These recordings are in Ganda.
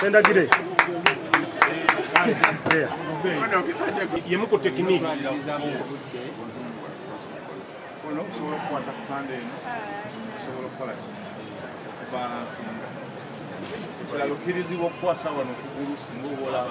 Sendagire. Yemu ku tekiniki. Ono kusobola okukwata ku pande eno kusobola okukola ki okubalansinga ekirala okkirizibwa okukwasa wano okugulu singa oba olaba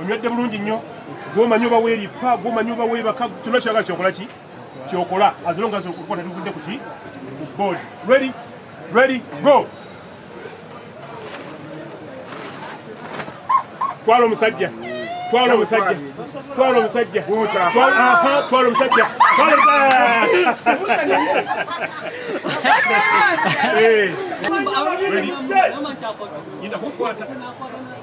onywedde bulungi nnyo gwomanyi oba weerippa gwomanyi oba weebaka kyona kyagala kyokola ki kyokola azilonga zokukuba tetuvudde ku ki ku board ready ready go twala omusajja twala omusajja twala omusajja twala omusajja twala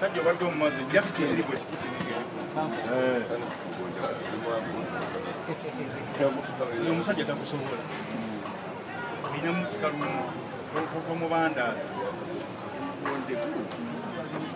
Sajja obadde omumaze just kiri bwe kikuti omusajja takusobola olina musika lumu omubandazi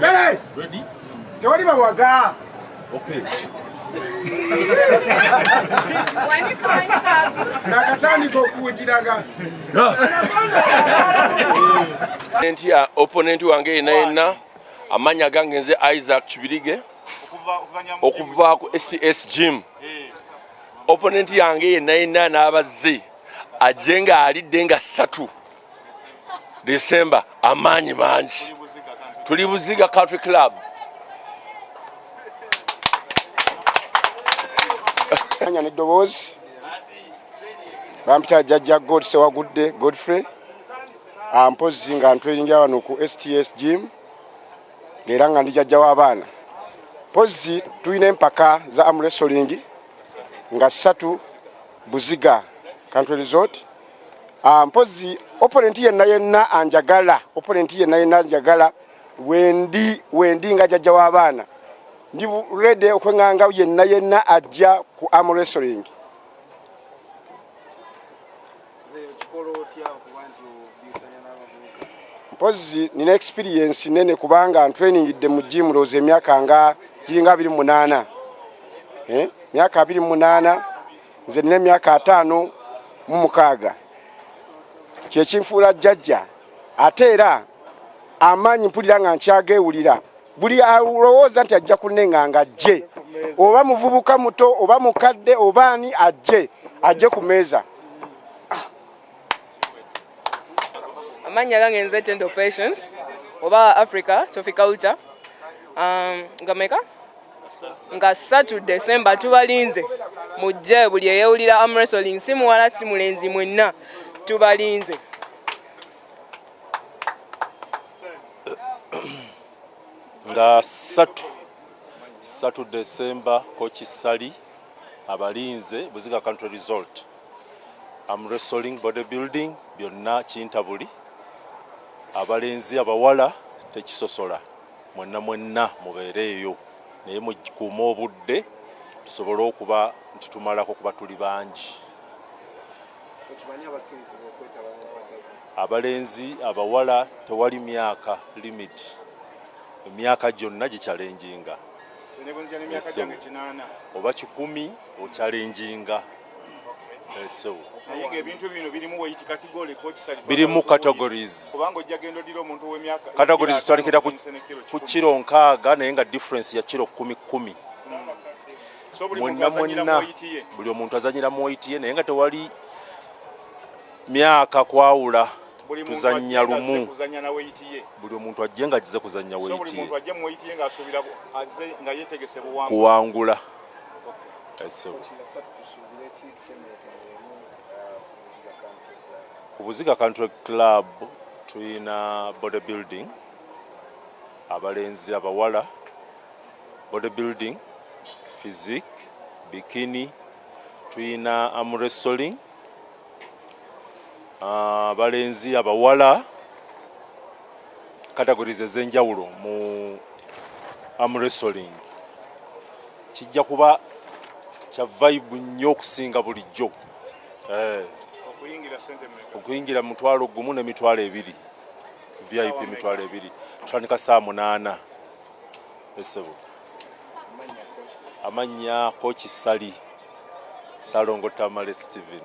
Ready? Ready? Tewali bawaga. Okay. nakatandika okuwugiraga nti ya oponenti wange yena yenna amanya gange nze isaac kibirige okuva ku scs gym oponenti yange yenna yenna n'abazze ajje nga alidde nga ssatu december amaanyi mangi tuli buziga country club anya neddoboozi bampita jajja god sewagudde godfrey ampozzi ah, nga ntweyingira wano ku sts gym ngaera nga ndi jajja w'abaana pozzi tulina empaka za amresoling nga ssatu buziga country resort Ah, mpozi opponent yenna yenna anjagala opponent yenna yenna anjagala wendi wendi nga jajja w'abaana ndi ready okwenganga yenna yenna ajja ku arm wrestling mpozi nina experience nene kubanga ntrainingidde mu gym looza emyaka nga giringa abiri mu munaana eh? myaka abiri mu munaana nze nina emyaka ataano mu mukaaga kyekinfuula jjajja ate era amaanyi mpulira nga nkyageewulira buli alowooza nti ajja kunenga nga ajje oba muvubuka muto oba mukadde oba ani ajje ajje ku meeza amannya gange nze tendo patience oba africa trophiculture um, gameka nga ssatu desemba tubalinze mujje buli eyewulira amresoling si muwala si mulenzi mwenna tubalinze nga ssatu ssatu desemba kokisali abalinze buziga country result amresoling body building byonna kintabuli abalenzi abawala tekisosola mwenna mwenna mubeere eyo naye mukikuuma obudde tusobole okuba nti tumalako kuba tuli bangi abalenzi abawala tewali myaka limit emyaka gyonna gikyalenjinga oba kikumi okyalenjinga birimu categories tutalikira ku kiro nkaaga naye nga difference ya kiro kumi kumi mwenna mwenna buli omuntu azanyira mu waiti ye naye nga tewali myaka kwawula tuzanya lumu buli omuntu ajje nga agize kuzanya waiti ye kuwangula ku buziga country club tulina body building abalenzi abawala body building physique bikini tulina amresoling abalenzi abawala categories ez'enjawulo mu amresoling kijja kuba kya vibe nnyo okusinga bulijjo eh. okuyingira mutwalo gumu ne mitwalo ebiri vip mitwalo ebiri tutandika saa munaana esebo amannya koki sali salongo tamale steven